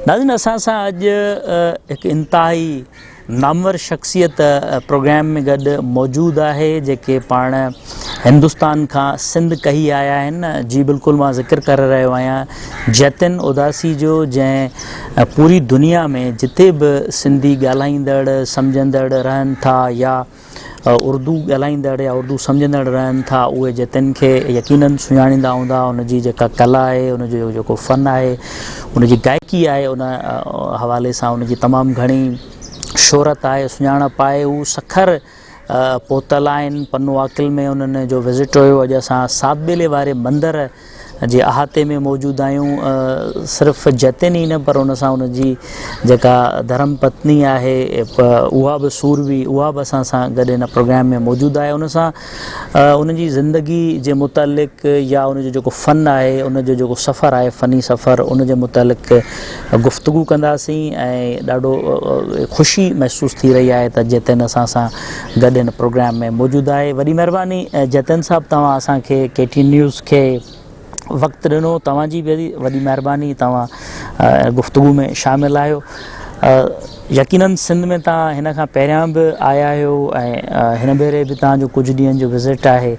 ناظرين اسان سان اڄ هڪ انتهائي نامور شخصيت پروگرام ۾ گڏ موجود آهي جيڪي پاڻ هندستان کان سنڌ ڪهي آيا آهن جي بلڪل مان ذڪر ڪري رهيو آهيان جتن اداسي جو جنهن پوري دنيا ۾ جتي به سنڌي ڳالهائيندڙ سمجهندڙ رهن ٿا يا اردو ڳالهائيندڙ يا اردو سمجهندڙ رهن ٿا اهي جتن کي يقيناً سڃاڻيندا هوندا ان جي جيڪا ڪلا آهي ان جو جيڪو فن آهي ان جي گائڪي آهي ان حوالي سان ان جي تمام گهڻي شهرت آهي سڃاڻپ آهي هو سکر پهتل آهن پنو عاقل ۾ انهن جو وزٽ هيو اڄ اسان سات ٻيلي واري مندر جي احاطي ۾ موجود آهيون صرف جتن ئي نه پر ان سان ان جي جيڪا ڌرم پتني آهي اها به سوربي اها به اسان سان گڏ ان پروگرام ۾ موجود آهي ان سان ان جي زندگي جي متعلق يا ان جو جيڪو فن آهي ان جو جيڪو سفر آهي فني سفر ان جي متعلق گفتگو ڪنداسين ۽ ڏاڍو خوشي محسوس ٿي رهي آهي ته جتن اسان سان گڏ هن پروگرام ۾ موجود آهي وڏي مهرباني جتن صاحب توهان اسان کي ڪي ٽي نيوز کي وقت ڏنو توهان جي به وڏي مهرباني توهان گفتگو ۾ شامل آهيو يقينن سنڌ ۾ توهان هن کان پهريان به آيا آهيو ۽ هن ڀيري به توهان جو ڪجهه ڏينهن جو وزٽ آهي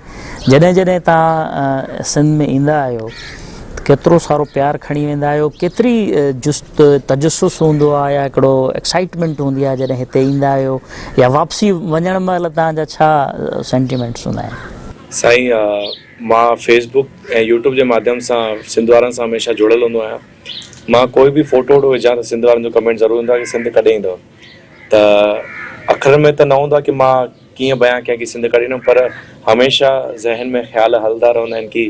جڏهن جڏهن توهان سنڌ ۾ ايندا آهيو ڪيترو سارو پيار کڻي ويندا آهيو ڪيتري جست هڪ تجسس هوندو آهي يا هڪڙو ايڪسائيٽمينٽ هوندي آهي جڏهن هتي ايندا آهيو يا واپسي وڃڻ مهل توهان جا ڇا سينٽيمينٽس هوندا آهن؟ سائين مان فيس بوڪ ۽ يوٽيوب جي ماڌيم سان سنڌ وارن سان هميشه جڙيل هوندو آهيان مان ڪوئي به فوٽو ووٽو وجهان ته سنڌ وارن جو ڪمينٽ ضرور ايندو آهي ڪي سنڌ ڪڏهن ايندؤ. ته اکرن ۾ ته نه هوندو آهي ڪي مان ڪيئن بيان ڪيان ڪي سنڌ ڪهڙي نموني پر هميشه ذهن ۾ خيال هلندا رهندا آهن ڪي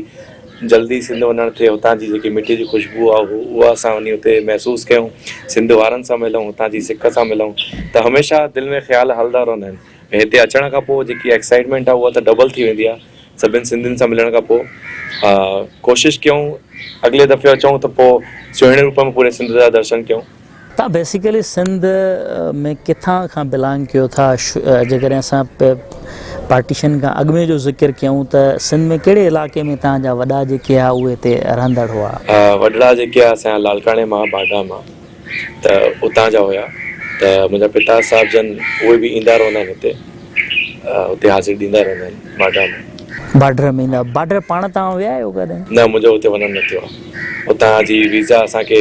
جلدي سنڌ وڃڻ ٿئي هتان جي جيڪي مٽي جي خوشبو آهي هو اها اسان وڃي اتي محسوس ڪيون سنڌ وارن سان ملون هتان جي سڪ سان ملون ته هميشه دل ۾ خيال هلندا رهندا آهن ۽ هتي اچڻ کان پوء جيڪي ايڪسائيٽمينٽ آهي اها ته ڊبل ٿي ويندي آهي سڀن سنڌين سان ملڻ کان پوء ڪوشش ڪيون اڳلي دفعي اچون ته پوء سهڻي روپ ۾ پوري سنڌ جا درشن ڪيون. تان بيسيڪلي سنڌ ۾ ڪٿان کان بلانگ ڪيو ٿا جيڪڏهن اسان پارٽيشن کان اڳ ۾ جو ذڪر ڪيون ته سنڌ ۾ ڪهڙي علائقي ۾ تان جا وڏا جيڪي ها اهي هتي رهندڙ هئا. وڏڙا جيڪي ها سان لاڙڪاڻي مان باگا مان ته اتان جا هيا ته منهنجا پتا صاحب جن اهي به ايندا رهندا آهن هتي. اتي حاضري ڏيندا رهندا آهن باڊر ۾. باڊر ۾ ايندا باڊر پاڻ توهان ويا آهيو ڪڏهن؟ نه منهنجو اتي وڃڻ نه ٿيو آهي اتان جي ويزا اسان کي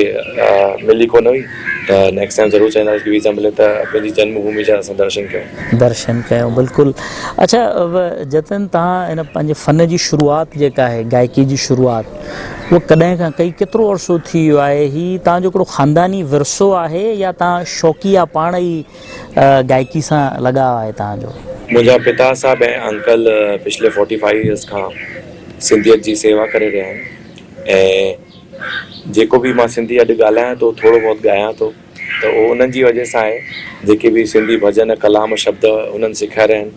ملي ڪونه هئي ته نيڪسٽ ٽائيم ضرور چاهينداسين ڪي ويزا ملي ته پنهنجي جنم ڀومي جا اسان درشن ڪيون. درشن ڪيون بلڪل اڇا جتن توهان هن پنهنجي فن جي شروعات جيڪا آهي گائڪي جي شروعات هو ڪڏهن کان ڪئي ڪيترو عرصو ٿي ويو آهي هي توهان جو هڪڙو خانداني ورثو آهي يا توهان شوقيا پاڻ ئي گائڪي سان لڳاء آهي توهان جو؟ منهنجا پتا صاحب ۽ انڪل پڇلي فورٽي فائيو ايئرس کان سنڌيت جي سيوا ڪري رهيا آهن ۽ جيڪو به مان سنڌي اڄ ڳالهايان ٿو ٿورو بهت ڳايان ٿو ته اهو انهن جي وجهه سان آهي جيڪي به سنڌي ڀڄن ڪلام شبد انهن سکيا رهيا آهن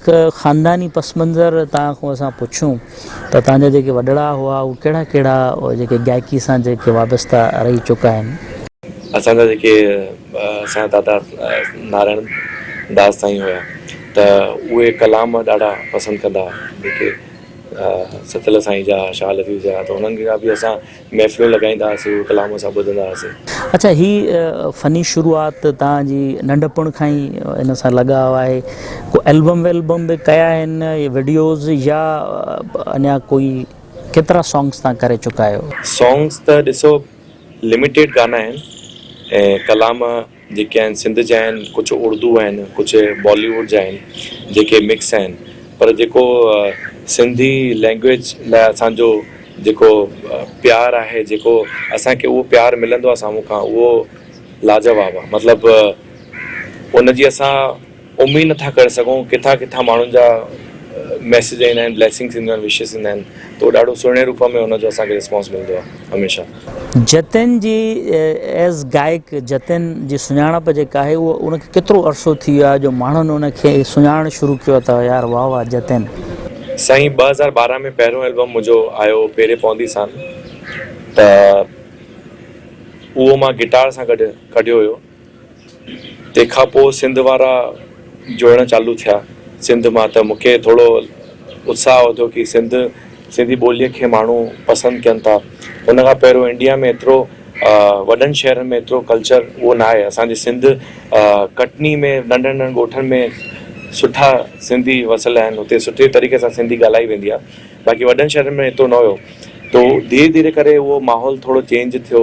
هڪ خانداني پس منظر توهان کان اسان پڇون ته توهان جا جيڪي وڏڙا هئا اهي ڪهڙا ڪهڙا جيڪي گائڪي سان جيڪي وابسته رهي چڪا آهن. اسان جا جيڪي اسان جا دادا نارائڻ داس سائين هيا ته اهي ڪلام ڏاڍا پسند ڪندا هئا جيڪي ستل سائين جا شاهه لطيف جا ته انهن جا به اسان محفلون لڳائيندا هئاسين ڪلام اسان ٻڌندا هئاسين. اڇا هي فني شروعات توهان جي ننڍپڻ کان ئي ان سان لڳاء آهي ڪو البم والبم به ڪيا آهن وڊيوز يا اڃا ڪوئي ڪيترا سانگس توهان ڪري چڪا آهيو. سانگس ته ڏسو لميٽيڊ گانا آهن ۽ ڪلام جيڪي آهن سنڌ جا آهن ڪجهه اڙدو آهن ڪجهه بالي ووڊ جا آهن جيڪي مڪس آهن پر جيڪو سنڌي لينگويج لاء اسان جو جيڪو پيار آهي جيڪو اسان کي اهو پيار ملندو آهي سامهون کان اهو لاجواب آهي مطلب ان جي اسان اميد نه ٿا ڪري سگهون ڪٿان ڪٿان ماڻهن جا ميسيج ايندا آهن بليسنگس اينديون آهن وشز ايندا آهن ته اهو ڏاڍو سهڻي روپ ۾ ان جو اسان کي ريسپانس ملندو آهي هميشه. جتين جي ايز گائڪ جتين جي سڃاڻپ جيڪا آهي اهو ان کي ڪيترو عرصو ٿي ويو آهي جو ماڻهن ان کي سڃاڻڻ شروع ڪيو اٿئو يار واه واه جتين. سائين ٻه هزار ٻارهن ۾ پهريون البم منهنجو آيو پيري پوندي سان ته اهو مان گٽار سان گڏ ڪڍيو هيو تنهن کان پوء سنڌ وارا جڙڻ چالو ٿيا. سنڌ مان ته مون کي ٿورو اتساهه وڌو ڪي سنڌ سنڌي ٻوليء کي ماڻهو پسند ڪين ٿا. ان کان پهريون انڊيا ۾ ايترو وڏن شهرن ۾ ايترو ڪلچر اهو نه آهي. اسان جي سنڌ ڪٽني ۾ ننڍن ننڍن ڳوٺن ۾ سٺا سنڌي وسيل آهن. اتي سٺي طريقي سان سنڌي ڳالهائي ويندي آهي. باقي وڏن شهرن ۾ ايترو نه هيو. تو ڌيري ڌيري ڪري اهو ماحول ٿورو چينج ٿيو.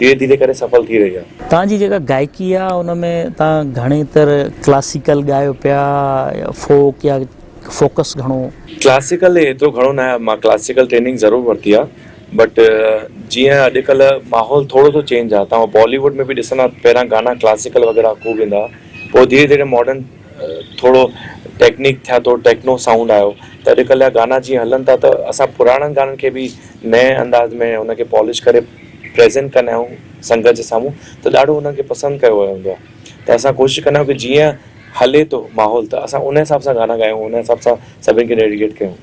ڌيري ڌيري ڪري سڦل ٿي رهي آهي. توهان جي جيڪا گائڪي آهي ان ۾ توهان گهڻي تر ڪلاسيڪل ڳايو پيا يا فوڪ يا فوڪس گهڻو. ڪلاسيڪل ايترو گهڻو نه آهي مان ڪلاسيڪل ٽريننگ ضرور ورتي آهي بٽ جيئن اڄ ڪلهه ماحول ٿورو سو چينج آهي توهان بالي ووڊ ۾ به ڏسندا پهريان گانا ڪلاسيڪل وغيره خوب ايندا هئا پوء ڌيري ڌيري ماڊرن ٿورو ٽيڪنڪ ٿيا ٿورو ٽيڪنو سائونڊ آيو ته اڄ ڪلهه جا گانا جيئن هلن ٿا ته اسان پراڻن گانن کي به نئين انداز ۾ ان کي پالش ڪري پريزينٽ ڪندا آهيون سنگت جي سامهون ته ڏاڍو انهن کي پسند ڪيو ويو هوندو آهي ته اسان ڪوشش ڪندا آهيون ڪي جيئن هلي ٿو ماحول ته اسان ان حساب سان گانا ڳايون ان حساب سان سڀني کي ڊيڊيڪيٽ ڪيون.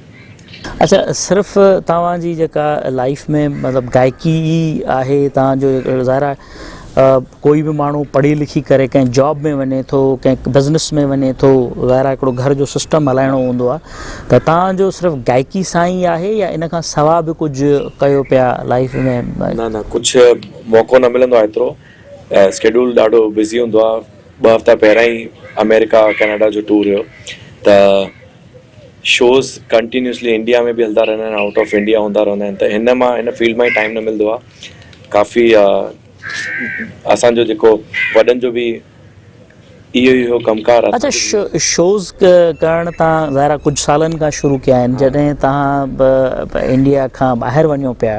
اڇا صرف توهان جي جيڪا لائيف ۾ مطلب گائڪي ئي آهي توهان جو ظاهر آهي ڪوئي به ماڻهو پڙهي لکي ڪري ڪنهن جاب ۾ وڃي ٿو ڪنهن بزنس ۾ وڃي ٿو وغيره هڪڙو گهر جو سسٽم هلائڻو هوندو آهي ته تان جو صرف گائڪي سان ئي آهي يا ان کان سوا به ڪجهه ڪيو پيا لائيف ۾. نه نه ڪجهه موقعو نه ملندو آهي ايترو سڪيڊول ڏاڍو بزي هوندو آهي ٻه هفتا پهريان ئي آمريڪا ڪينيڊا جو ٽور هيو ته شوز ڪنٽينيوسلي انڊيا ۾ به هلندا رهندا آهن آئوٽ آف انڊيا هوندا رهندا آهن ته هن مان هن فيلڊ مان ٽائيم نه ملندو آهي ڪافي اسان جو جيڪو وڏن جو به اهو ئي هو ڪم ڪار. اچا شوز ڪرڻ تان ظاهرا ڪجهه سالن کان شروع ڪيا آهن جڏهن تهان انڊيا کان ٻاهر وڃو پيا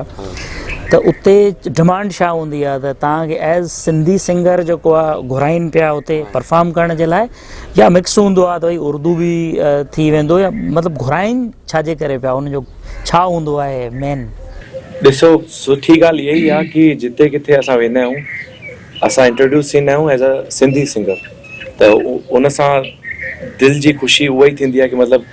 ته اتي ڊمانڊ ڇا هوندي آهي ته تهان کي ايز سنڌي سنگر جيڪو آهي گهرائين پيا اتي پرفارم ڪرڻ جي لاء يا مڪس هوندو آهي ته اردو به ٿي ويندو يا مطلب گهرائين ڇا جي ڪري پيا ان جو ڇا هوندو آهي مين؟ ڏسو سٺي ڳالهه اهي ئي آ ڪي جتي ڪٿي اسان ويندا آهيون اسان انٽروڊيوس ٿيندا آهيون ايز ا سنڌي سنگر ته ان سان دل جي خوشي اها ئي ٿيندي آ ڪي مطلب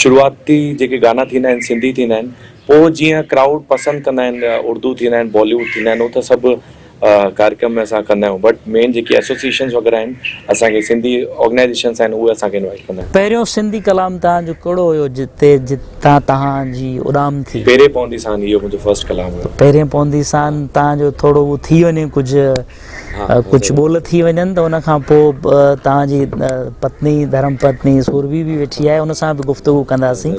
شروعاتي جيڪي گانا ٿيندا آهن سنڌي ٿيندا آهن پوء جيئن ڪرائوڊ پسند ڪندا آهن اردو ٿيندا آهن باليووڊ ٿيندا آهن هو ته سڀ ڪارڪم ۾ اسان ڪندا آهيون بٽ مين جيڪي ايسوسيئيشنز وغيره آهن اسان کي سنڌي آرگنائيزيشنز آهن اهي اسان کي انوائيٽ ڪندا آهن. پهريون سنڌي ڪلام تهان جو ڪهڙو هيو جتي جتان تهان جي اڏام ٿي؟ پهرين پوندي سان اهو منهنجو فرسٽ ڪلام هيو. پهرين پوندي سان تهان جو ٿورو اهو ٿي وڃي ڪجهه ڪجهه ٻول ٿي وڃن ته ان کان پوء تهان جي پتني ڌرم پتني سورڀي به ويٺي آهي ان سان به گفتگو ڪنداسين.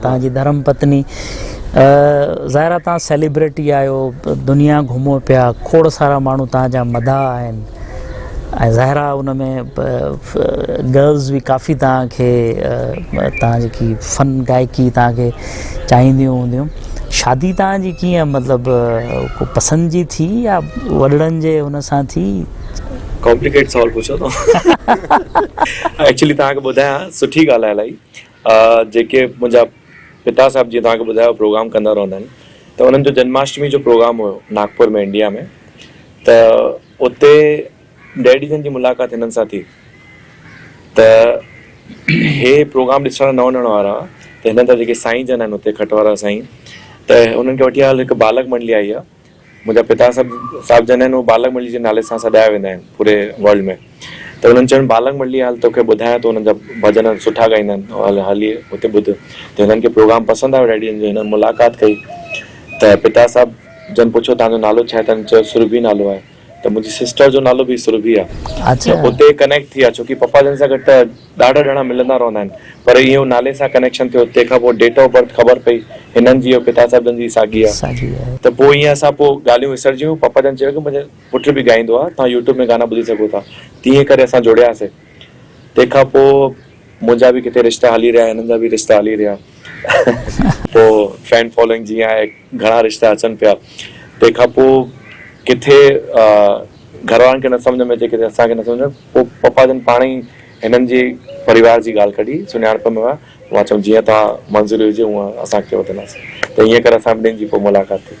توهان جي ڌرم پتني ظاهر آهي توهان سيليبريٽي آهيو دنيا گهمو پيا کوڙ سارا ماڻهو توهان جا مداح آهن ۽ ظاهر آهي ان ۾ گرلز به ڪافي توهان کي توهان جيڪي فن گائڪي توهان کي چاهينديون هونديون شادي توهان جي ڪيئن مطلبु کو پسند جي ٿي يا وڏڙن جي هن سان ٿي ڪامپليڪيٽ سوال پڇيو اٿو ايڪچولي توهان کي ٻڌايان سٺي ڳالهه آهي الاهي آء جيڪي منهنجا پتا صاحب جيئن توهان کي ٻڌايو پروگرام ڪندا رهندا آهن ته انهن جو جنماشٽمي جو پروگرام هيو ناگپور ۾ انڊيا ۾ ته اتي ڊيڊي جن جي ملاقات هنن سان ٿي ته هي پروگرام ڏسڻ نه وڃڻ وارا هئا ته هنن جا جيڪي سائين جن آهن اتي کٽ وارا سائين ته هنن کي وٺي آيل هڪ بالڪ منڊلي آئي هئا منهنجا پتا صاحب جنھن هو بالغ مرلي جي نالي سان سڏايا ويندا آهن پوري ورلڊ ۾ ته انهن چيو بالغ مرلي هل توکي ٻڌايان ٿو انهن جا ڀڄن سٺا ڳائيندا آهن هل هلي اتي ٻڌ ته هنن کي پروگرام پسند آيو ڊيڊي جن جو هنن ملاقات ڪئي ته پتا صاحب جن پڇيو توهان جو نالو ڇا آهي ته هنن چيو سرڀي نالو آهي. ته منهنجي سسٽر جو نالو به سرڀي آ ته اتي ڪنيڪٽ ٿي آ ڇوڪي پپا جن سان گڏ ته ڏاڍا ڄڻا ملندا رهندا آهن پر اهو نالي سان ڪنيڪشن ٿيو تنهن کان پوء ڊيٽ آف برٿ خبر پئي هنن جي ۽ پتا صاحب جن جي ساڳي آ ته پوء ائين اسان پوء ڳالهيون وسرجي ويون پپا جن چيو ڪي منهنجو پٽ به ڳائيندو آ توهان يوٽيوب ۾ گانا ٻڌي سگهو ٿا تيئن ڪري اسان جڙياسي تنهن کان پوء منهنجا به ڪٿي رشتا هلي رهيا هنن جا به رشتا هلي رهيا پوء فين فالوئنگ جيئن آهي گهڻا رشتا اچن پيا تنهن کان پوء ڪٿي گهر وارن کي نه سمجهه ۾ اچي ڪٿي اسان کي نه سمجهه ۾ پوء پپا جن پاڻ ئي هنن جي پريوار جي ڳالهه ڪڍي سڃاڻپ ۾ ويا مان چيم جيئن توهان منظوري هجي هونئن اسان اڳتي وڌنداسين ته ائين ڪري اسان ٻنهين جي پوء ملاقات ٿي.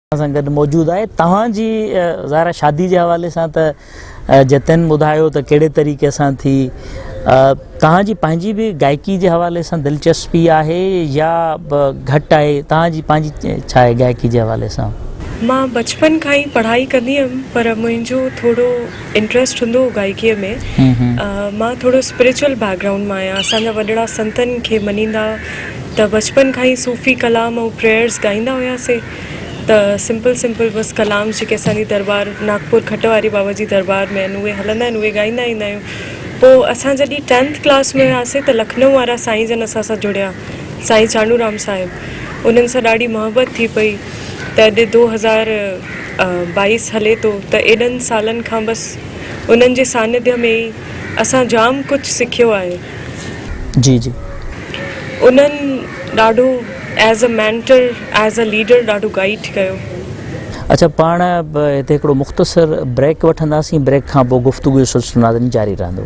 سان گڏ موجود آهي توهان جي ظاهر شادي جي حوالي سان ته جتن ٻڌايو ته ڪهڙي طريقي سان ٿي توهان جي پنهنجي به گائڪي جي حوالي سان دلچسپي آهي يا گهٽ آهي توهان جي پنهنجي ڇا آهي گائڪي جي حوالي سان مان بچپن کان ئي پڙهائي ڪندي هيم پر منهنجو ٿورو انٽريسٽ هوندو هو گائڪيء ۾ مان ٿورو اسپريچل بيڪ گرائونڊ مان آهيان اسان جا وڏڙا سنتن کي مڃيندا ته بچپن کان ئي صوفي ڪلام ۽ پريئرز ڳائيندا هياسين ته سمپل سمپل بس ڪلام جيڪي اسان جي درٻار ناگپور کٽ واري بابا جي درٻار ۾ اهي هلندا آهن اهي ڳائيندا ايندا آهيون پوء اسان جڏهن ٽينٿ ڪلاس ۾ هياسين ته لکنؤ وارا سائين جن اسان سان جڙيا سائين چانوء رام صاحب انهن سان ڏاڍي محبت ٿي پئي ته دو هزار باعث هلي ٿو ته ايڏن سالن کان بس انهن جي سانڌيء ۾ ئي اسان جام ڪجهه سکيو آهي. جي جي. انهن ڏاڍو as a mentor as a leader ڏاڍو گائيڊ ڪيو. اڇا پاڻ هتي هڪڙو مختصر بريڪ وٺنداسين بريڪ کان پوء گفتگو جو سلسلو ناظرين جاري رهندو.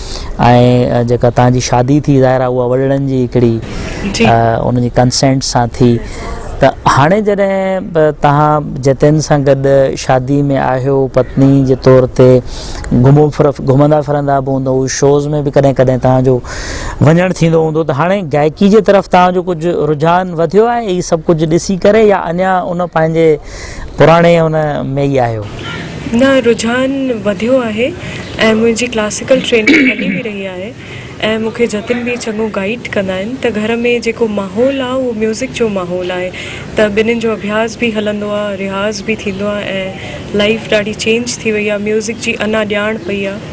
۽ جيڪا توهان جي شادي ٿي ظاهر آهي اها وڏڙن جي هڪڙي انهن جي ڪنسينٽ سان ٿي ته هاڻي جڏهن توهان جتين سان گڏ شادي ۾ آهيو پتني جي طور تي گهمو گهمندا ڦرندا به هوندو شوز ۾ به ڪڏهن ڪڏهن توهان جو وڃڻ ٿيندو هوندو ته هاڻي گائڪي جي طرف توهان جو ڪجهه رجحان وڌيو آهي هي سڀ ڪجهه ڏسي ڪري يا اڃا ان پنهنجي پراڻي ان ۾ ئي آهيو. نه رجحان وڌيو آهي ۽ منهنجي ڪلاسيڪل ٽريننگ هلي به رهي آهي ۽ مون کي جتن به چڱو گائيڊ ڪندا آهن ته گهر ۾ جيڪو ماحول آهي اهو ميوزڪ جو ماحول آهي ته ٻنهين جو اڀياس به هلندو آهي رياض به ٿيندو آهي ۽ لائيف ڏاڍي چينج ٿي وئي آهي ميوزڪ جي انا ڄاڻ پئي آهي.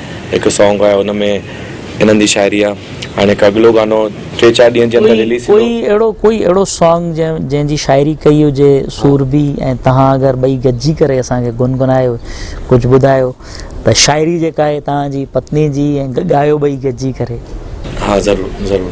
هڪ سانگ آهي ان ۾ انهن جي شاعري آهي هاڻي هڪ اڳلو گانو ٽي چار ڏينهن جي اندر رليز ٿيندو. ڪوئي اهڙو ڪوئي اهڙو سانگ جنهن جي شاعري ڪئي هجي سورڀي ۽ تهان اگر ٻئي گڏجي ڪري اسان کي گنگنايو ڪجهه ٻڌايو ته شاعري جيڪا آهي تهان جي پتني جي ۽ ڳايو ٻئي گڏجي ڪري. ها ضرور ضرور.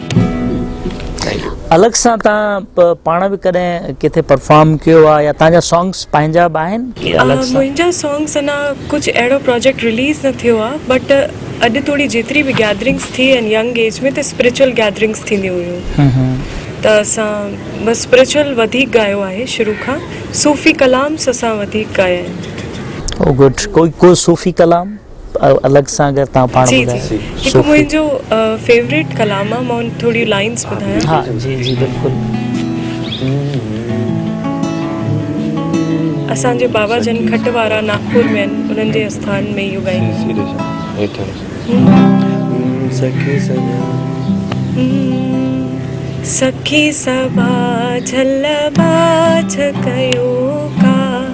الغ سان تان پاڻ به ڪڏهن ڪٿي پرفارم ڪيو آ يا تان جا سانگس پنهنجا به آهن ڪي الغ سان. منهنجا سانگس اڃا ڪجهه اهڙو پراجيڪٽ رليز نه ٿيو آ بٽ اڄ توڙي جيتري به گيدرنگس ٿي آهن ينگ ايج ۾ ته اسپريچل گيدرنگس ٿينديون هيون ته اسان بس اسپريچل وڌيڪ ڳايو آهي شروع کان صوفي ڪلامس اسان وڌيڪ ڳايا آهن. او گڊ ڪو صوفي ڪلام. الڳ سان اگر تان پاڻ ٻڌايو. جي جي هڪ منهنجو فيوريٽ ڪلام آ مان ٿوريون لائنس ٻڌايان. ها جي جي بلڪل. اسان جي بابا جن کٽ وارا ناگپور ۾ آهن انهن جي آستان ۾ اهو ڳايندو.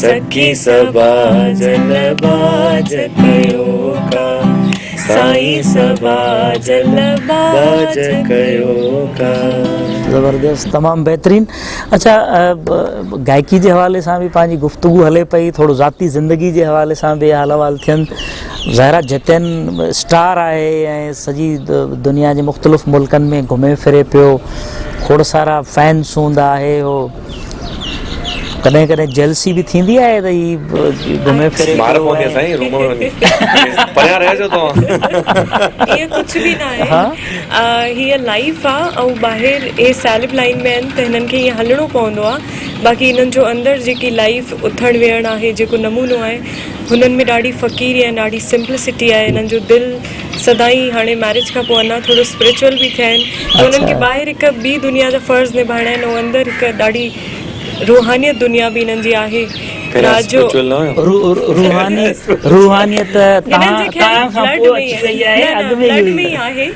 سکي صبا جل باج ڪيو ڪا سائين صبا جل باج ڪيو ڪا. زبردست تمام بهترين اچا گائڪي جي حوالي سان به پنهنجي گفتگو هلي پئي ٿورو ذاتي زندگي جي حوالي سان به حال احوال ٿين ظاهرا جتين اسٽار آهي ۽ سڄي دنيا جي مختلف ملڪن ۾ گهمي ڦري پيو کوڙ سارا فينس هوندا آهي هو ڪڏهن ڪڏهن جيلسي به ٿيندي آهي ته هي گهمي ڦري مار پوندي آهي سائين روم ۾ وڃي پريان رهجو توهان اهي ڪجهه به نه آهي هي لائيف آ ۽ ٻاهر هي سيلب لائين ۾ آهن ته هنن کي هيئن هلڻو پوندو آ باقي هنن جو اندر جيڪي لائيف اٿڻ ويهڻ آهي جيڪو نمونو آهي هنن ۾ ڏاڍي فقيري ۽ ڏاڍي سمپلسٽي آهي هنن جو دل سدائين هاڻي مئريج کان پوء اڃا ٿورو اسپريچوئل به ٿيا آهن ته انهن کي ٻاهر هڪ ٻي دنيا جا فرض نڀائڻا آهن ۽ اندر هڪ ڏاڍي روحانيت دنيا به انهن جي آهي رات جو روحانيت انهن جي خيال بلڊ ۾ ئي آهي نه نه بلڊ ۾ ئي آهي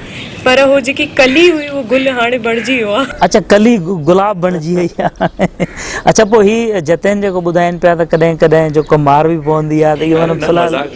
پر هو جيڪي ڪلي هئي اهو گل هاڻي بڻجي ويو آهي. اڇا ڪلي گلاب بڻجي وئي آهي اڇا پوء هي جتين جيڪو ٻڌائين پيا ته ڪڏهن ڪڏهن جو ڪو مار به پوندي آهي ته اهو مطلب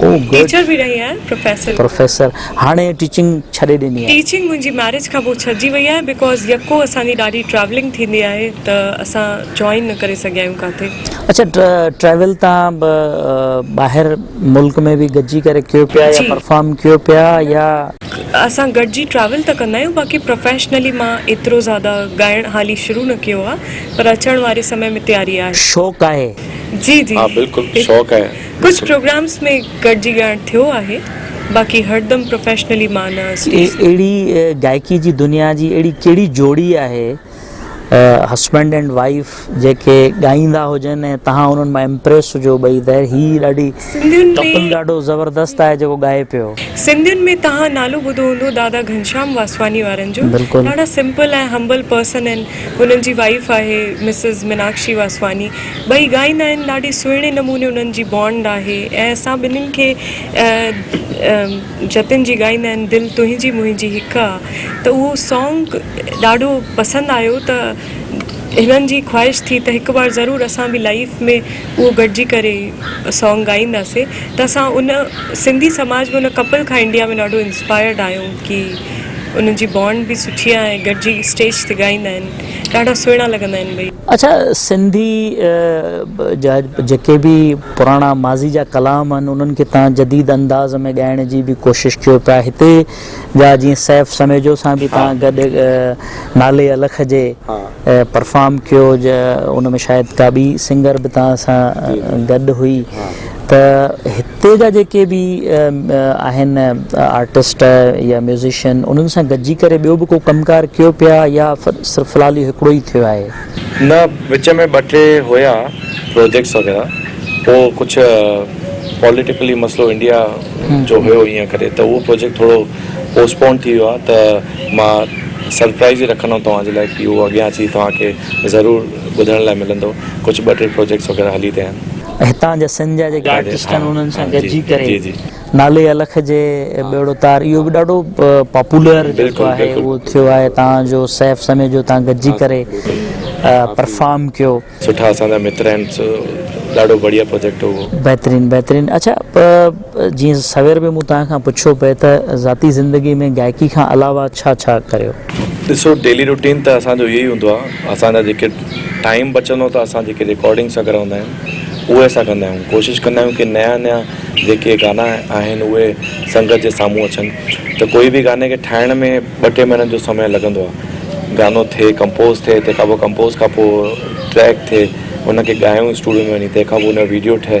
او گڊ. ٽيچر به رهي آهيان پروفيسر به. پروفيسر هاڻي ٽيچنگ ڇڏي ڏني آهي. ٽيچنگ منهنجي ميرج کان پوء ڇڏجي وئي آهي بيڪاز يڪو اسان جي ڏاڍي ٽريولنگ ٿيندي آهي ته اسان جوائن نه ڪري سگهيا آهيون ڪاٿي. اڇا ٽريول تان ٻاهر ملڪ ۾ به گڏجي ڪري ڪيو پيا يا پرفارم ڪيو پيا يا. اسان گڏجي ٽريول ته ڪندا آهيون باقي پروفيشنلي مان ايترو زياده ڳائڻ هالي شروع نه ڪيو آهي پر اچڻ واري سمي ۾ تياري آهي. شوق آهي. جي جي. ها بلڪل شوق آهي. ڪجهه پروگرامز ۾ گڏجي ڳائڻ ٿيو آهي باقي هردم پروفيشنلي مان نه اسٽيج تي. اهڙي گائڪي جي دنيا جي اهڙي ڪهڙي جوڙي آهي هسبنڊ اينڊ وائيف جيڪي ڳائيندا هجن ۽ تهان انهن مان امپريس هجو ٻئي ته هي ڏاڍي ڪپل ڏاڍو زبردست آهي جيڪو ڳائي پيو. سنڌين ۾ تهان نالو ٻڌو هوندو دادا گهنشام واسواني وارن جو ڏاڍا سمپل ۽ همبل پرسن آهن انهن جي وائيف آهي مسز مناڪشي واسواني. ٻئي ڳائيندا آهن ڏاڍي سهڻي نموني انهن جي بانڊ آهي ۽ اسان ٻنهين کي جتن جي ڳائيندا آهن دل تنهنجي منهنجي هڪ آ ته اهو سانگ ڏاڍو پسند آيو ته هنن جي خواهش ٿي ته هڪ بار ضرور اسان به لائيف ۾ اهو گڏجي ڪري سانگ ڳائينداسين ته اسان ان سنڌي سماج ۾ ان ڪپل کان انڊيا ۾ ڏاڍو انسپائرڊ آهيون ڪي انهن جي بانڊ به سٺي آ ۽ گڏجي اسٽيج تي ڳائيندا آهن ڏاڍا سهڻا لڳندا آهن ٻئي. اڇا سنڌي جا جيڪي به پراڻا ماضي جا ڪلام آهن انهن کي تهان جديد انداز ۾ ڳائڻ جي به ڪوشش ڪيو پيا هتي جا جيئن سيف سميجو سان به تهان گڏ نالي الخ جي پرفارم ڪيو ان ۾ شايد ڪا ٻي سنگر به تهان سان گڏ هئي ته هتي جا جيڪي به آهن آرٽسٽ يا ميوزيشن انهن سان گڏجي ڪري ٻيو به ڪو ڪم ڪار ڪيو پيا يا صرف في الحال اهو هڪڙو ئي ٿيو آهي؟ نه وچ ۾ ٻه ٽي هيا پروجيڪٽس وغيره پوء ڪجهه پوليٽيڪلي مسئلو انڊيا جو هيو ان ڪري ته اهو پروجيڪٽ ٿورو پوسٽ پونڊ ٿي ويو آهي ته مان سرپرائيز ئي رکندم توهان جي لاء ڪي اهو اڳيان اچي توهان کي ضرور ٻڌڻ لاء ملندو ڪجهه ٻه ٽي پروجيڪٽس وغيره هلي رهيا آهن. هتان جا سنڌ جا جيڪي آرٽسٽ آهن انهن سان گڏجي ڪري نالي الخ جي ٻيڙو تار اهو به ڏاڍو پاپولر جيڪو آهي اهو ٿيو آهي تان جو سيف سمي جو تان گڏجي ڪري پرفارم ڪيو سٺا اسان جا متر آهن ڏاڍو بڙيا پروجيڪٽ هو بهترين بهترين اڇا جيئن سوير به مون توهان کان پڇيو پئي ته ذاتي زندگي ۾ گائڪي کان علاوه ڇا ڇا ڪريو. ڏسو ڊيلي روٽين ته اسان جو اهو ئي هوندو آهي اسان جا جيڪي ٽائيم بچندو ته اسان جيڪي رڪارڊنگس وغيره هوندا آهن اهي اسان ڪندا آهيون ڪوشش ڪندا آهيون ڪي نيا نيا جيڪي گانا آهن اهي سنگت جي سامهون اچن ته ڪوئي به گاني کي ٺاهڻ ۾ ٻه ٽي مهينن جو سمي لڳندو آهي گانو ٿئي ڪمپوز ٿئي تنهن کان پوء ڪمپوز کان پوء ٽريڪ ٿئي ان کي ڳايون اسٽوڊيو ۾ وڃي تنهن کان پوء ان جو ويڊيو ٺهي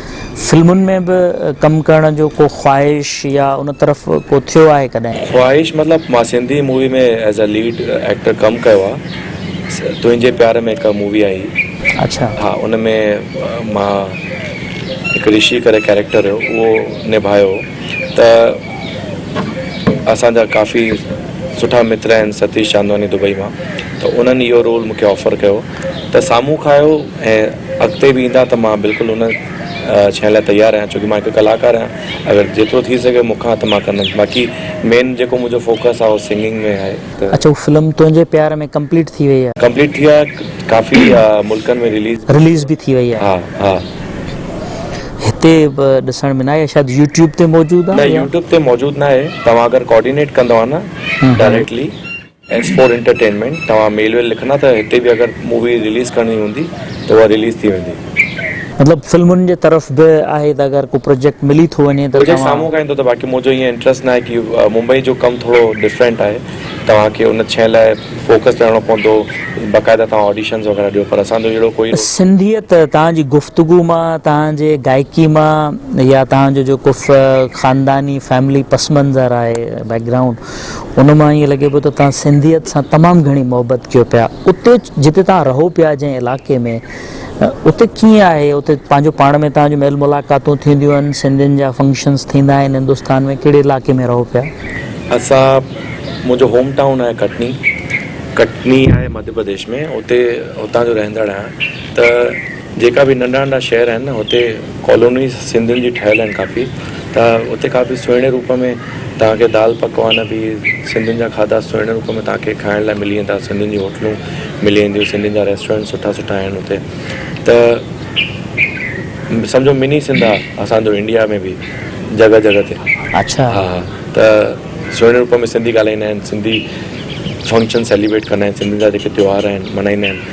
فلمن ۾ به ڪم ڪرڻ جو ڪو خواهش يا ان طرف ڪو ٿيو آهي ڪڏهن؟ خواهش مطلب مان Sindhi movie ۾ as a lead actor ڪم ڪيو آ تنهنجي پيار ۾ هڪ مووي آهي اڇا ها ان ۾ مان هڪ رشي ڪري ڪيريڪٽر هيو اهو نڀايو ته اسان جا ڪافي سٺا متر آهن ستيش چاندواني دبئي مان ته انهن اهو رول مونکي آفر ڪيو ته سامهون کائيو ۽ اڳتي به ايندا ته مان بلڪل ان شين لاء تيار آهيان ڇو ڪي مان هڪ ڪلاڪار آهيان اگر جيترو ٿي سگهيو مون کان ته مان ڪندم باقي مين جيڪو منهنجو فوڪس آهي اهو سنگنگ ۾ آهي ته. اچ هو فلم تنهنجي پيار ۾ ڪمپليٽ ٿي وئي آ. ڪمپليٽ ٿي آ ڪافي ملڪن ۾ رليز. رليز به ٿي وئي آ. ها ها. هتي ڏسڻ ۾ نه آئي آ شايد يوٽيوب تي موجود آ. نه يوٽيوب تي موجود ناهي توهان اگر ڪوآرڊينيٽ ڪندو ها نه ڊائريڪٽلي. ايس فور انٽرٽينمينٽ توهان ميل ويل لکندا ته هتي به اگر مووي رليز ڪرڻي هوندي ته اها رليز ٿي ويندي. مطلب فلمن جي طرف به آهي ته اگر ڪو پروجيڪٽ ملي ٿو وڃي ته پروجيڪٽ توهان. سامهون کان ايندو ته باقي منهنجو ائين انٽريسٽ ناهي ڪي ممبئي جو ڪم ٿورو ڊفرينٽ آهي توهان کي ان شئي لاء فوڪس رهڻو پوندو باقاعده توهان آڊيشنز وغيره ڏيو پر اسان جو اهڙو ڪوئي روڪ. سنڌيت توهان جي گفتگو مان توهان جي گائڪي مان يا توهان جو جيڪو خانداني فيملي پس منظر آهي بيڪ گرائونڊ ان مان ائين لڳي پيو ته توهان سنڌيت سان تمام گهڻي محبت ڪيو پيا. اتي جتي توهان رهو پيا جنهن علائقي ۾ اتي ڪيئن آهي؟ اتي پنهنجو پاڻ ۾ توهان جون ميل ملاقاتون ٿينديون آهن؟ سنڌين جا فنڪشنز ٿيندا آهن هندستان ۾؟ ڪهڙي علائقي ۾ رهو پيا؟ اسان منهنجو هوم ٽائون آهي ڪٽني. ڪٽني آهي مڌيه پرديش ۾ اتي هتان جو رهندڙ آهيان ته. جيڪا به ننڍا ننڍا شهر آهن نه هتي ڪالونيز سنڌين جي ٺهيل آهن ڪافي ته هتي ڪافي سهڻي روپ ۾ توهان کي دال پڪوان به سنڌين جا کاڌا سهڻي روپ ۾ توهان کي کائڻ لاء ملي ويندا سنڌين جون هوٽلون ملي وينديون سنڌين جا ريسٽورينٽ سٺا سٺا آهن هتي ته سمجهو مني سنڌ آهي اسانجو انڊيا ۾ به جڳهه جڳهه تي اڇا ها ها ته سهڻي روپ ۾ سنڌي ڳالهائيندا آهن سنڌي فنڪشن سيليبريٽ ڪندا آهن سنڌين جا جيڪي تيوهار آهن ملهائيندا آهن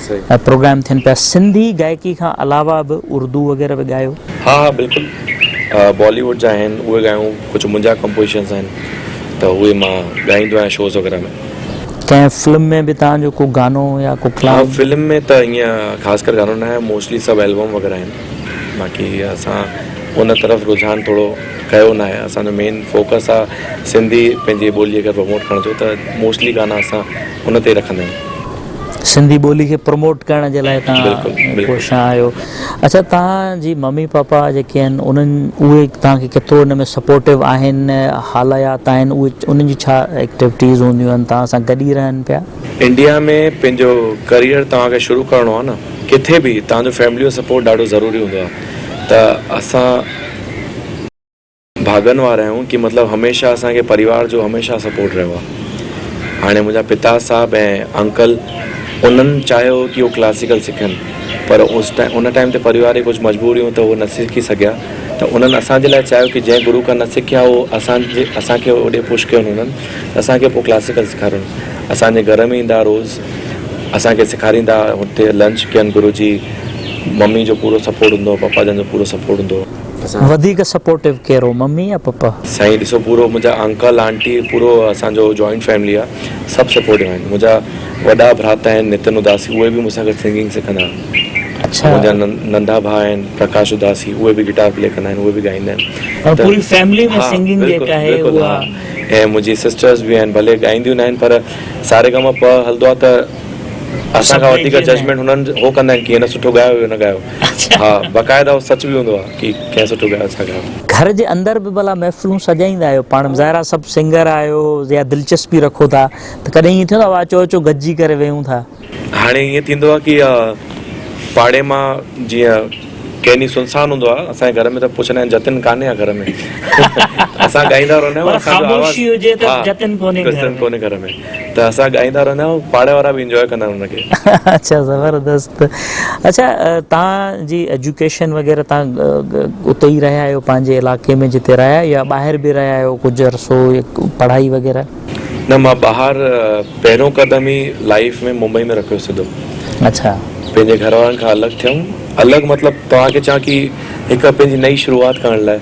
پروگرام ٿين پيا سنڌي گائڪي کان علاوه به اردو وغيره به ڳايو. ها ها بلڪل بالي ووڊ جا آهن اهي ڳايون ڪجهه منهنجا ڪمپوزيشنز آهن ته اهي مان ڳائيندو آهيان شوز وغيره ۾. ڪنهن فلم ۾ به توهان جو ڪو گانو يا ڪو ڪلام. ها فلم ۾ ته ائين خاص ڪر گانو ناهي موسٽلي سڀ البم وغيره آهن باقي اسان ان طرف رجحان ٿورو ڪيو ناهي اسان جو مين فوڪس آهي سنڌي پنهنجي ٻولي کي پروموٽ ڪرڻ جو ته موسٽلي گانا اسان ان تي رکندا آهيون. سنڌي ٻولي کي پروموٽ ڪرڻ جي لاء تهان ڪوشان آهيو اچا تهان جي ممي پاپا جيڪي آهن انهن اهي تهان کي ڪيترو ان ۾ سپورٽو آهن حاليات آهن اهي انهن جي ڇا ايڪٽيوٽيز هونديون آهن تهان سان گڏ ئي رهن پيا انڊيا ۾ پنهنجو ڪريئر توهان کي شروع ڪرڻو آهي نه ڪٿي به توهان جو فيملي جو سپورٽ ڏاڍو ضروري هوندو آهي ته اسان. ڀاڳن وارا آهيون ڪي مطلب هميشه اسان کي پريوار جو هميشه سپورٽ رهيو آهي هاڻي منهنجا پتا صاحب ۽ انڪل انهن چاهيو هو ڪي هو ڪلاسيڪل سکن پر اس ٽائيم ان ٽائيم تي پريوار جي ڪجهه مجبوريون ته هو نه سکي سگهيا ته انهن اسان جي لاء چاهيو ڪي جنهن گرو کان نه سکيا هو اسان جي اسان کي هوڏي پش ڪيو انهن ته اسان کي پوء ڪلاسيڪل سکاريون اسان جي گهر ۾ ايندا ها روز اسان کي سکاريندا ها هتي لنچ ڪين گرو جي ممي جو پورو سپورٽ هوندو هو پپا جن جو پورو سپورٽ هوندو هو. وڌيڪ سپورٽو ڪيرو ممي يا پپا. سائين ڏسو پورو منهنجا انڪل آنٽي پورو اسان جو جوائنٽ فيملي آ سڀ سپورٽو آهن منهنجا وڏا ڀراتا آهن نتن اداسي اهي به مون سان گڏ سنگنگ سکندا آهن اڇا منهنجا ننڍا ڀاء آهن پرڪاش اداسي اهي به گٽار پلي ڪندا آهن اهي به ڳائيندا آهن ته پوري فيملي ۾ سنگنگ جيڪا آهي اها ۽ منهنجي سسٽرز به آهن ڀلي ڳائينديون ناهن پر ساري گاما پ هلندو آ ته اسان کان وڌيڪ ججمينٽ هنن هو ڪندا آهن ڪي هن سٺو ڳايو هي نه ڳايو ها باقاعده اهو سچ به هوندو آهي ڪي ڪنهن سٺو ڳايو ڇا ڳايو. گهر جي اندر به ڀلا محفلون سجائيندا آهيو پاڻ ظاهر آهي سڀ سنگر آهيو يا دلچسپي رکو ٿا ته ڪڏهن ائين ٿيندو آهي اچو اچو گڏجي ڪري ويهون ٿا. هاڻي ائين ٿيندو آهي ڪي پاڙي مان جيئن ڪنهن ڏينهن سنسان هوندو آهي اسان جي گهر ۾ ته پڇندا آهن جتن ڪانهي ها گهر ۾ اسان ڳائيندا رهندا آهيون اسان جو آواز ها جتن ڪونهي گهر ۾. ته اسان ڳائيندا رهندا آهيون پاڙي وارا به انجوائي ڪندا آهن ان کي. اچا زبردست اچا تان جي ايجوڪيشن وغيره تان اتي ئي رهيا آهيو پنهنجي علائقي ۾ جتي رهيا آهيو يا ٻاهر به رهيا آهيو ڪجهه عرصو پڙهائي وغيره. نه مان ٻاهر پهريون قدم ئي لائيف ۾ ممبئي ۾ رکيو سڌو اچا پنهنجي گهر وارن کان الڳ ٿيم الڳ مطلب توهان کي چان ڪي هڪ پنهنجي نئي شروعات ڪرڻ لاء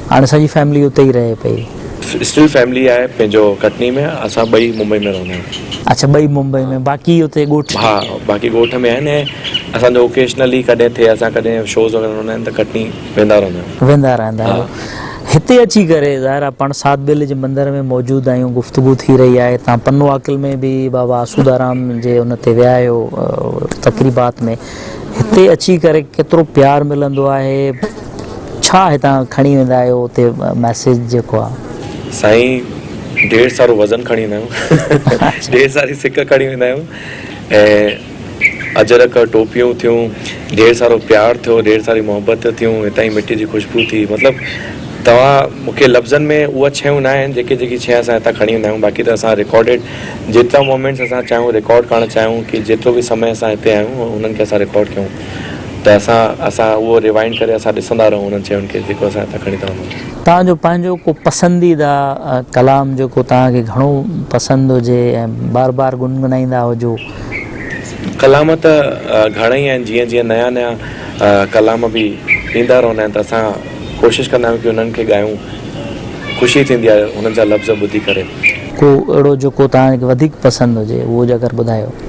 هاڻي سڄي فيملي اتي ئي رهي پئي. اسٽل فيملي آهي پنهنجو ڪٽني ۾ اسان ٻئي ممبئي ۾ رهندا آهيون. اڇا ٻئي ممبئي ۾ باقي اتي ڳوٺ. ها باقي ڳوٺ ۾ آهن ۽ اسان جو اوڪيشنلي ڪڏهن ٿئي اسان ڪڏهن شوز وغيره هوندا آهن ته ڪٽني ويندا رهندا آهيون. ويندا رهندا آهيو هتي اچي ڪري ظاهر آهي پاڻ سات بيلي جي مندر ۾ موجود آهيون گفتگو ٿي رهي آهي تان پنو عاقل ۾ به بابا آسودارام جي ان تي ويا آهيو تقريبات ۾ هتي اچي ڪري ڪيترو پيار ملندو آهي. ڇا هتان کڻي ويندا آهيو اتي ميسيج جيڪو آ. سائين ڍير سارو وزن کڻي ويندا آهيون ڍير ساري سڪ کڻي ويندا آهيون ۽ اجرڪ ٽوپيون ٿيون ڍير سارو پيار ٿيو ڍير ساري محبت ٿيون هتان جي مٽي جي خوشبو ٿي مطلب توهان مونکي لفظن ۾ اهي شيون نه آهن جيڪي جيڪي شي اسان هتان کڻي ويندا آهيون باقي ته اسان رڪارڊيڊ جيترا مومينٽس اسان چاهيون رڪارڊ ڪرڻ چاهيون ڪي جيترو به سمي اسان هتي آهيون انهن کي اسان رڪارڊ ڪيون. ته اسان اسان اهو ريوائنڊ ڪري اسان ڏسندا رهون انهن شين کي جيڪو اسان هتان کڻي ٿا وڃون. توهان جو پنهنجو ڪو پسنديده ڪلام جيڪو توهان کي گهڻو پسند هجي ۽ بار بار گنگنائيندا هجو. ڪلام ته گهڻا ئي آهن جيئن جيئن نيا نيا ڪلام به ايندا رهندا آهن ته اسان ڪوشش ڪندا آهيون ڪي انهن کي ڳايون خوشي ٿيندي آهي انهن جا لفظ ٻڌي ڪري. ڪو اهڙو جيڪو توهان کي وڌيڪ پسند هجي اهو جي اگر ٻڌايو.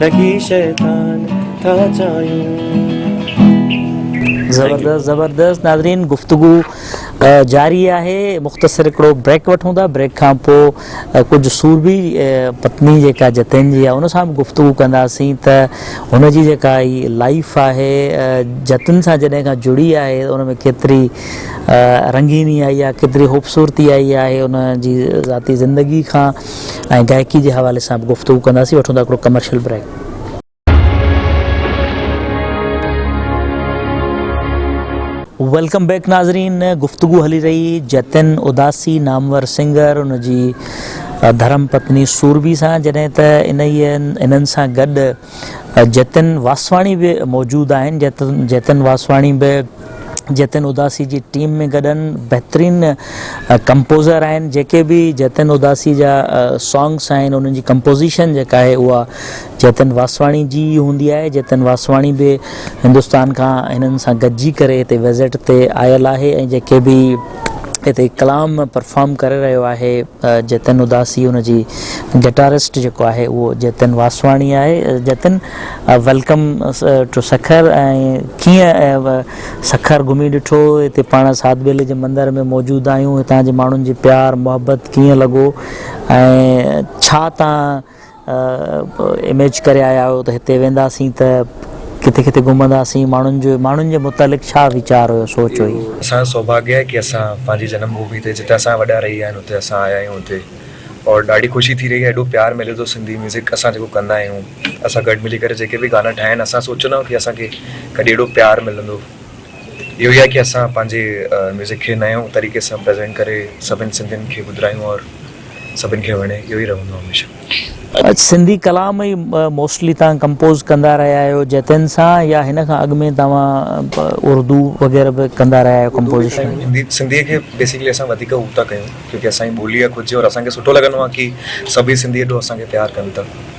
ٺڳي شيطان ٿا چايون. زبردست زبردست ناظرين گفتگو جاري آهي مختصر هڪڙو بريڪ وٺون ٿا بريڪ کان پو ڪجهه سورڀي پتني جيڪا جتين جي آهي ان سان به گفتگو ڪنداسين ته هن جي جيڪا هي لائيف آهي جتن سان جڏهن کان جڙي آهي ان ۾ ڪيتري رنگيني آئي آهي ڪيتري خوبصورتي آئي آهي ان جي ذاتي زندگي کان ۽ گائڪي جي حوالي سان به گفتگو ڪنداسين وٺون ٿا هڪڙو ڪمرشل بريڪ. ويلڪم بيڪ ناظرين گفتگو هلي رهي جتن اداسي نامور سنگر ان جي ڌرم پتني سورڀي سان جڏهن ته انهيء انهن سان گڏ جتن واسواڻي به موجود آهن جتن واسواڻي به جتن اداسي جي ٽيم ۾ گڏ آهن بهترين ڪمپوزر آهن جيڪي به جتن اداسي جا سانگس آهن انهن جي ڪمپوزيشن جيڪا آهي اها جتن واسواڻي جي ئي هوندي آهي جتن واسواڻي به هندستان کان هنن سان گڏجي ڪري هتي وزٽ تي آيل آهي ۽ جيڪي به هتي ڪلام پرفارم ڪري رهيو آهي جتن اداسي ان جي گٽارسٽ جيڪو آهي اهو جتن واسواڻي آهي جتن ويلڪم ٽو سکر ڪيئن سکر گهمي ڏٺو هتي پاڻ ساڌ ٻيلي جي مندر ۾ موجود آهيون هتان جي ماڻهن جي پيار محبت ڪيئن لڳو ۽ ڇا تان اميج ڪري آيا آهيو ته هتي وينداسين ته ڪٿي ڪٿي گهمنداسين ماڻهن جو ماڻهن جي متعلق ڇا ويچار هيو سوچ هئي. اسان جو سوڀاگيه آهي ڪي اسان پنهنجي جنم ڀومي تي جتي اسان جا وڏا رهي ويا آهن اتي اسان آيا آهيون هتي اور ڏاڍي خوشي ٿي رهي آهي ايڏو پيار ملي ٿو سنڌي ميوزڪ اسان جيڪو ڪندا آهيون اسان گڏ ملي ڪري جيڪي به گانا ٺاهيا آهن اسان سوچيو نه هو ڪي اسان کي ڪڏهن ايڏو پيار ملندو اهو ئي آهي ڪي اسان پنهنجي ميوزڪ کي نيون طريقي سان پريزينٽ ڪري سڀن سنڌين کي ٻڌرايون اور سڀن کي وڻي اهو ئي رهندو هميشه. اڄ سنڌي ڪلام ئي موسٽلي توهان ڪمپوز ڪندا رهيا آهيو جتين سان يا هن کان اڳ ۾ توهان اردو وغيره به ڪندا رهيا آهيو ڪمپوزيشن. سنڌي کي بيسڪلي اسان وڌيڪ هو ٿا ڪيون ڪيونڪه اسان جي ٻولي آهي خود جي اور اسان کي سٺو لڳندو آهي ڪي سڀ ئي سنڌي ايڏو اسان کي پيار ڪن ته.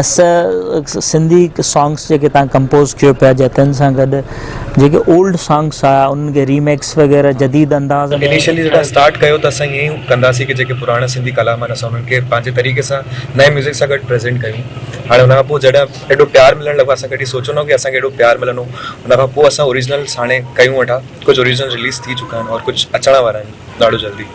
اسه سنڌي سانگس جيڪي تان ڪمپوز ڪيو پيا جا تن سان گڏ جيڪي اولڊ سانگس آ انهن کي ريميڪس وغيره جديد انداز ۾ انيشلي جڏهن اسٽارٽ ڪيو ته اسان ائين ئي ڪندا سين ڪي جيڪي پراڻا سنڌي ڪلام آهن اسان انهن کي پنهنجي طريقي سان نئين ميوزڪ سان گڏ پريزينٽ ڪيون هاڻي ان کان پوء جڏهن ايڏو پيار ملڻ لڳو اسان ڪڏهن سوچيو نه هو ڪي اسان کي ايڏو پيار ملندو ان کان پوء اسان اوريجنلس هاڻي ڪيون ويٺا ڪجهه اوريجنل رليز ٿي چڪا آهن اور ڪجهه اچڻ وارا آهن ڏاڍو جلدي.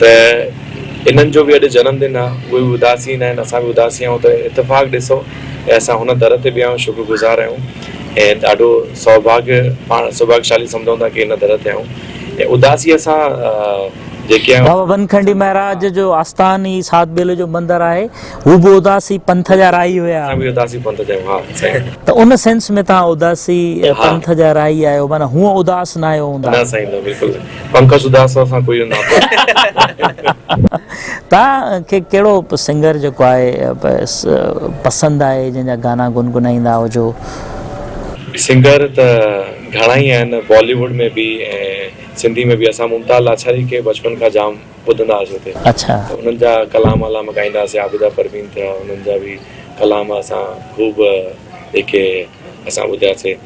ته انهن جو به اڄ جنم دن آ، اهي به اداسين آهن، اسان به اداسين آهيون ته اتفاق ڏسو ۽ اسان هن در تي بيهان شڪر گذار آهيون ۽ ڏاڍو سوڀاڳ پاڻ سوڀاڳشالي سمجهون ٿا ڪي هن در تي آهيون ۽ اداسيء سان جيڪي آهيون. بابا بنکنڊي مهراج جو آستان ئي ساڌ ٻيلي جو مندر آهي، هو به اداسي پنٿ جا راهي هيا. اسان به اداسي پنٿ جا آهيون، ها سائين. ته ان سينس ۾ توهان اداسي پنٿ جا راهي آهيو، معنيٰ هونء اداس ناهيو هوندا. نه سائين نه بلڪل نه. پنڪج اداس سان ڪوئي ناتو. توهان کي ڪهڙو سنگر جيڪو آهي پسند آهي جنهن جا گانا گنگنائيندا هجو. سنگر ته گهڻا ئي آهن بالي ووڊ ۾ به ۽ سنڌي ۾ به اسان ممتاز لاچاري کي بچپن کان جام ٻڌندا هئاسين اتي اڇا. ته انهن جا ڪلام علام ڳائيندا هئاسين عابده پروين ٿيا انهن جا به ڪلام اسان خوب جيڪي اسان ٻڌياسين.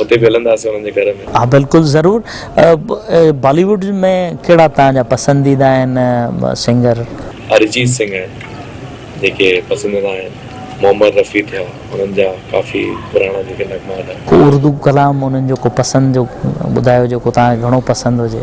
اتي به هلنداسين انهن جي گهر ۾. ها بلڪل ضرور. بالي ووڊ ۾ ڪهڙا توهان جا پسنديده آهن سنگر؟ ارجيت سنگهه آهن جيڪي پسنديده آهن. محمد رفيع ٿيا انهن جا ڪافي پراڻا جيڪي نغمات آهن. ڪو اردو ڪلام انهن جو ڪو پسند جو ٻڌايو جيڪو توهان کي گهڻو پسند هجي.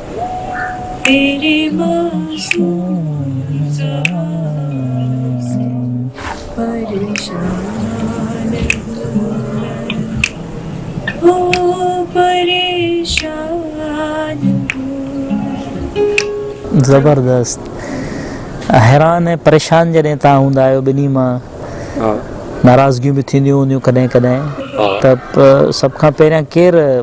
تيري معصوم زال سي پريشان هو پريشان زبردست حيران ۽ پريشان جڏهن تان هوندا آهيو ٻنهي مان ناراضگيون به ٿينديون هونديون ڪڏهن ڪڏهن ته سڀ کان پهريان ڪير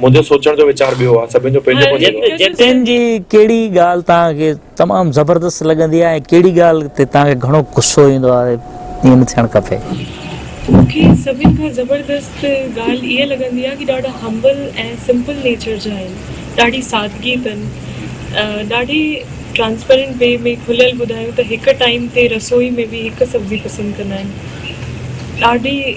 منهنجو سوچڻ جو ويچار ٻيو آ، سڀن جو پنهنجو پنهنجو. جتين جي ڪهڙي ڳالهه توهان کي تمام زبردست لڳندي آهي ۽ ڪهڙي ڳالهه تي توهان کي گهڻو غصو ايندو آهي؟ ائين نه ٿيڻ کپي. مون کي سڀن کان زبردست ڳالهه اها لڳندي آهي ڪي ڏاڍا همبل ۽ سمپل نيچر جا آهن، ڏاڍي سادگي تن، ڏاڍي ٽرانسپيرنٽ وي ۾ کليل ٻڌايون ته هڪ ٽائيم تي رسوئي ۾ به هڪ سبزي پسند ڪندا آهن، ڏاڍي.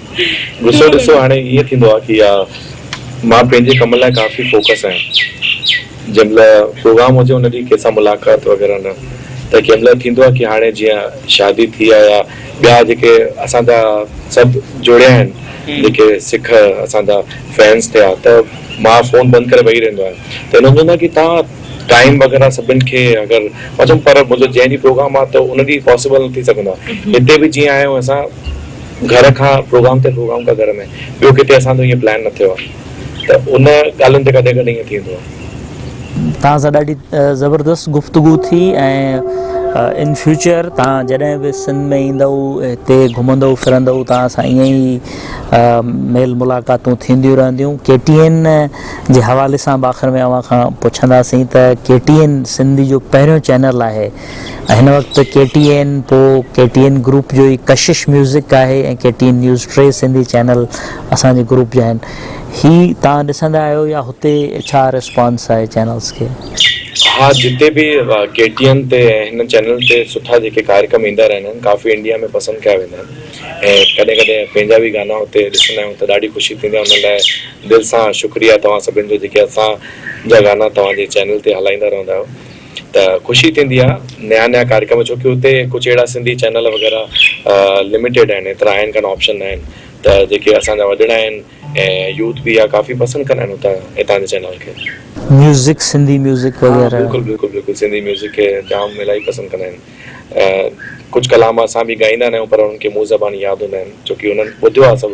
ڏسو ڏسو هاڻي ائين ٿيندو آهي يا مان پنهنجي ڪم لاء ڪافي فوڪس آهيان جنهن مهل پروگرام هجي ان ڏينهن ڪنهن سان ملاقات وغيره نه ته ڪنهن مهل ٿيندو آهي ڪي هاڻي جيئن شادي ٿي آهي يا ٻيا جيڪي اسان جا سڀ جڙيا آهن جيڪي سک اسان جا فينس ٿيا ته مان فون بند ڪري ويهي رهندو آهيان ته هن چوندو آهي ڪي تان ٽائيم وغيره سڀن کي اگر مان چيم پر منهنجو جنهن ڏينهن پروگرام آهي ته ان ڏينهن پاسبل نه ٿي سگهندو آهي هتي به جيئن آهيون اسان گهر کان پروگرام تي پروگرام ڪا گهر ۾ ٻيو ڪٿي اسان جو ائين پلان نه ٿيو آهي ته ان ڳالهين تي ڪڏهن ڪڏهن ائين ٿيندو آهي. توهان سان ڏاڍي زبردست گفتگو ٿي ۽ ان فيوچر توهان جڏهن به سنڌ ۾ ايندؤ هتي گهمندؤ ڦرندؤ توهان سان ائين ئي ميل ملاقاتون ٿينديون رهنديون ڪي ٽي اين جي حوالي سان به آخر ۾ اوهان کان پڇنداسين ته ڪي ٽي اين سنڌ جو پهريون چينل آهي هن وقت ڪي ٽي اين پوء ڪي ٽي اين گروپ جو ئي ڪشش ميوزڪ آهي ۽ ڪي ٽي اين نيوز ٽي سنڌي چينل اسان جي گروپ جا آهن هي توهان ڏسندا آهيو يا هتي ڇا ريسپانس آهي چينلز کي. ها جتي به ڪي ٽي اين تي ۽ هن چينل تي سٺا جيڪي ڪاريڪرم ايندا رهندا آهن ڪافي انڊيا ۾ پسند ڪيا ويندا آهن ۽ ڪڏهن ڪڏهن پنهنجا به گانا هتي ڏسندا آهيون ته ڏاڍي خوشي ٿيندي آهي ان لاء دل سان شڪريا توهان سڀن جو جيڪي اسان جا گانا توهان جي چينل تي هلائيندا رهندا آهيو. ته خوشي ٿيندي آ نيا نيا ڪاريڪرم ڇو ڪي اتي ڪجھ اھڙا سنڌي چينل وغيره لميٽيڊ آھن ايترا آھن ڪانه آپشن نه آھن ته جيڪي اسان جا وڏڙا آھن ۽ يوٿ به اھا ڪافي پسند ڪندا آھن اتان اتان جي چينل کي. ميوزڪ سنڌي ميوزڪ وغيره. ھا بلڪل بلڪل بلڪل سنڌي ميوزڪ کي جام الاھي پسند ڪندا آھن ۽ ڪجھ ڪلام اسان به ڳائيندا نه آھيون پر انھن کي منھن زبان ياد ھوندا آھن ڇو ڪي انھن ٻڌيو آ سڀ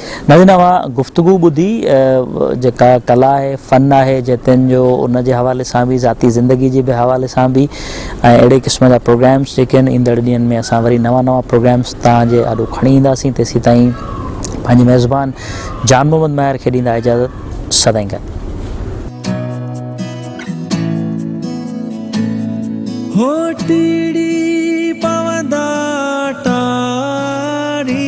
ناظرين اوهان گفتگو ٻڌي جيڪا ڪلا آهي فن آهي جتين جو ان جي حوالي سان به ذاتي زندگي جي به حوالي سان به ۽ اهڙي قسم جا پروگرامس جيڪي آهن ايندڙ ڏينهن ۾ اسان وري نوان نوان پروگرامس توهان جي آڏو کڻي اينداسين تيسين تائين پنهنجي ميزبان جان محمد ماهر کي ڏيندا اجازت سدائين گڏ هو ٽيڙي پوندا ٽاڙي